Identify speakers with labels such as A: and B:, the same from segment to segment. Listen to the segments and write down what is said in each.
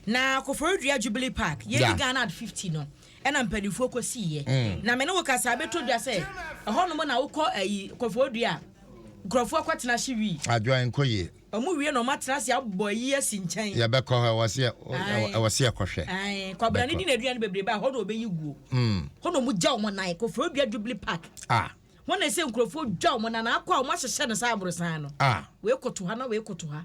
A: Na Koforidua Jubilee Park, yɛdi Ghana Ad 50 no, ɛna mpanimfoɔ kɔsiiɛ. Mm. Na me ne wo kasa bɛtɔ dwa sɛ ɛhɔnom na wokɔ ayi Koforidua a nkurɔfoɔ kɔtena hye wii. Adwoa nkɔ yie.
B: Ɔmo wie na ɔmo atena
A: ase abɔ ayi asi nkyɛn. Yɛbɛkɔ hɔ ɛwɔ se
B: ɛwɔ se ɛkɔhwɛ. Ae kwabena ne
A: di n'aduane bebrebe a hɔ na ɔbɛyi guo. Mm. Hɔ na ɔmo gya ɔmo nan Koforidua Jubilee Park. Ah. Hɔ na ɛsɛ nkurɔfoɔ dwa wɔn nan akɔ a wɔn ahyehyɛ no sɛ aborosan no. Ah. Wei koto ha na wei koto ha.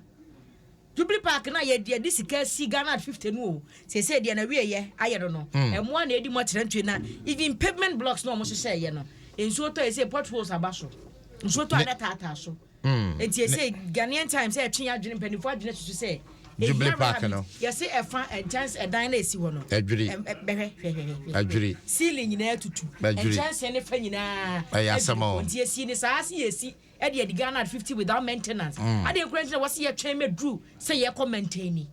A: Jubilee Park na yɛ deɛ de sika si Ghana at 50 no o. Sese deɛ na wie yɛ ayɛ no no. Mm. Ɛmoa na edi mu akyerɛ ntwe na even pavement blocks na wɔn hyehyɛ yɛ no. Nsuo tɔ yɛ sɛ potholes aba so. Nsuo tɔ a na taataa so. Enti ɛsɛ Ghanaian Times sɛ ɛtwe adwene mpanyinfoɔ adwene susu sɛ Jubilee Park no
B: yɛsɛ ɛfa
A: nkyɛnse ɛdan no a ɛsi hɔ no adwiri bɛhwɛ hwɛhwɛhwɛ adwiri
B: ceiling nyinaa tutu
A: nkyɛnse ne fa nyinaa ɛyɛ asɛm o nti
B: yɛsi ne saa
A: se yɛsi ɛde ɛde Ghana at fifty without maintenance mm. adeɛ nkura nti na wɔsi yɛtwɛn mɛduru sɛ yɛkɔ maintaini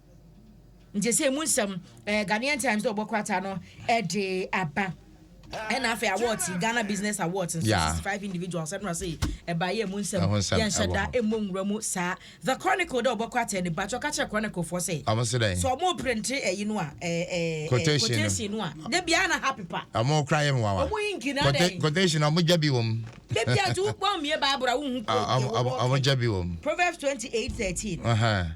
A: Nkyesee mu nsɛm, eh, Ghanaian Times de ɔbɔ krataa no de aba. ɛna afei awards yi Ghana Business Awards nso yeah. 65 individuals ɛnura sɛ ɛba yɛ mu nsɛm yɛnhyɛ da ɛmmɔ nwura mu saa The Chronicle dɛ ɔbɛkɔ atɛ ne ba kyɛ ɔka kyerɛ Chronicle foɔ sɛ sɛ ɔmo printe ɛyi no a quotation no a da biara na ha pepa ɔmo kora yɛ mmoawa ɔmo
B: hinki na dɛ quotation ɔmo gya bi wɔ mu da biara nti wokpɔ
A: mmie baabura wohu quote ɔmo gya bi
B: wɔ mu Proverbs
A: 28:13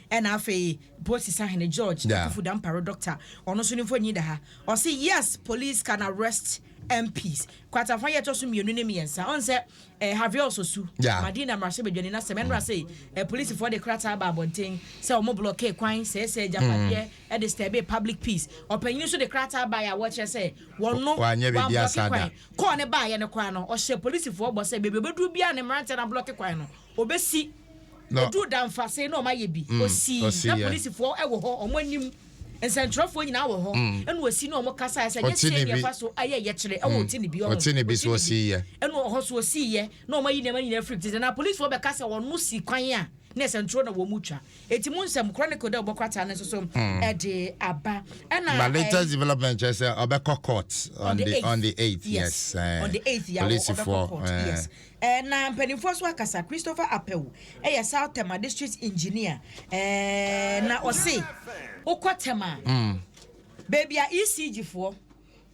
A: Ɛna afei Polisi Sahene George Akuffo Dampare Doctor ɔno nso ne mfoni da ha. Ɔse yes police can arrest MPs. Kwatafa yɛ ɛtɔso mmienu ne mmiɛnsa. Ɔhu sɛ eh, Javier Osusu, Madina mmarahyɛbadwani no asɛm ɛno na sei eh, polisifoɔ de krataa ba abɔnten sɛ wɔn blɔkee kwan, sɛɛsɛɛ agyapadeɛ, ɛde disturbee public peace. Ɔpanyin nso de krataa baeɛ a wɔkyerɛ sɛ wɔno wɔablɔke
B: kwan. Kɔɔ ne baeɛ no
A: koraa no, ɔhyɛ polisifoɔ bɔ sɛ baabi ɔbɛduru biara ne mmeranteɛ no ablɔke kwan no, Obesi. Oduu Damfase na wɔayɛ bi. Osi. Na polisifoɔ wɔ hɔ, wɔn anim. Nsɛntwerɛfoɔ nyinaa wɔ hɔ. Ɛna osi na wɔkasaeɛ sɛ, Nyɛ Kyerɛ nea ɛfa so ayɛ yɛkyerɛ. Ɛwɔ Ɔte ne bi ɔho. Ɔte ne bi so ɔsiiɛ.
B: Ɛna ɔhɔ so ɔsiiɛ
A: na wɔayi nneɛma nyinaa afiri tete. Na polisifoɔ bɛka sɛ ɔno si kwan a na ɛsɛntwerɛ na wɔretwa. Enti mo nsɛm, Chronicle dɛ wɔbɔ krataa no nso so de aba. Ɛna. But latest development
B: kyerɛ sɛ ɔbɛkɔ court on the on the eighth. Yes. On the eighth.
A: Polisifoɔ. Yes.
B: Ɛɛ,
A: na mpanimfoɔ nso akasa. Christopher Apawu yɛ South Tema District Engineer. Ɛɛ, na ɔse wokɔ Tema a, baabi a ECG foɔ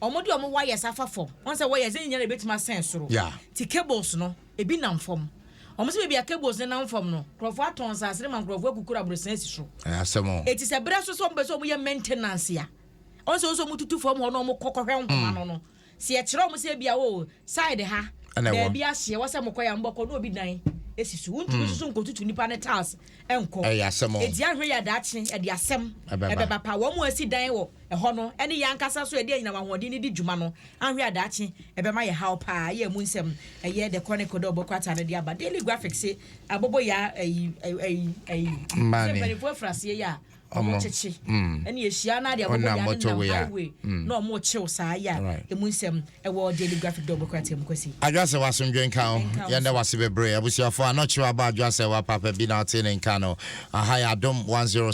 A: wɔde wɔn wires afa fam, wɔn sɛ wires no nyinaa na ɛbɛtumi asɛn soro, ti cables no, ebi nam fam. Wɔn sɛ baabi a cables no nam fam no, nkurɔfoɔ atɔn nsaase no ma nkurɔfoɔ akukuru abrosɛn asi so. Eti sɛ berɛ
B: so sɛ wɔn
A: pɛ sɛ wɔn yɛ maintenance a, wɔn sɛ wɔn sɛ wɔn tutu fam hɔ na wɔn kɔ kɔhwɛ nhoma no no. Sɛ yɛkyerɛ wɔn sɛ ebia o side ha baabi ahye ɛwɔ sɛ mokɔ yɛ a mobɛkɔ na obi dan esi so wontumi nso hmm. so nkotutu nipa ne tiles nkɔ edi ahwɛ yɛ daakye ɛde asɛm ɛbɛba pa wɔn mu asi dan wɔ ɛhɔ no ɛne yɛn ankasa so ɛde anyina wɔn ahoɔden ne di dwuma no ahwɛ yɛ daakye ɛbɛma yɛ haw paa yɛ mu nsɛm ɛyɛ the chronicle dɛ ɔbɛkɔ ata no de aba daily graphics abobo yɛ ɛyi ɛyi ɛyi mpanimfoɔ afuraseɛ yɛ a ɔmo kyekye ɛne ehyia na ade a ɔmo yɛ ano nam highway na ɔmo kyew saa yɛ a emu nsɛm ɛwɔ daily graphic dɔbɔ kora te mu kwasi. Adwoasɛ wa asomdwe nka
B: wo yɛn da wase bebree abusuafo a na ɔkyew aba adwoasɛ wa papa bi na ɔte ne nka no aha yɛ adom 106.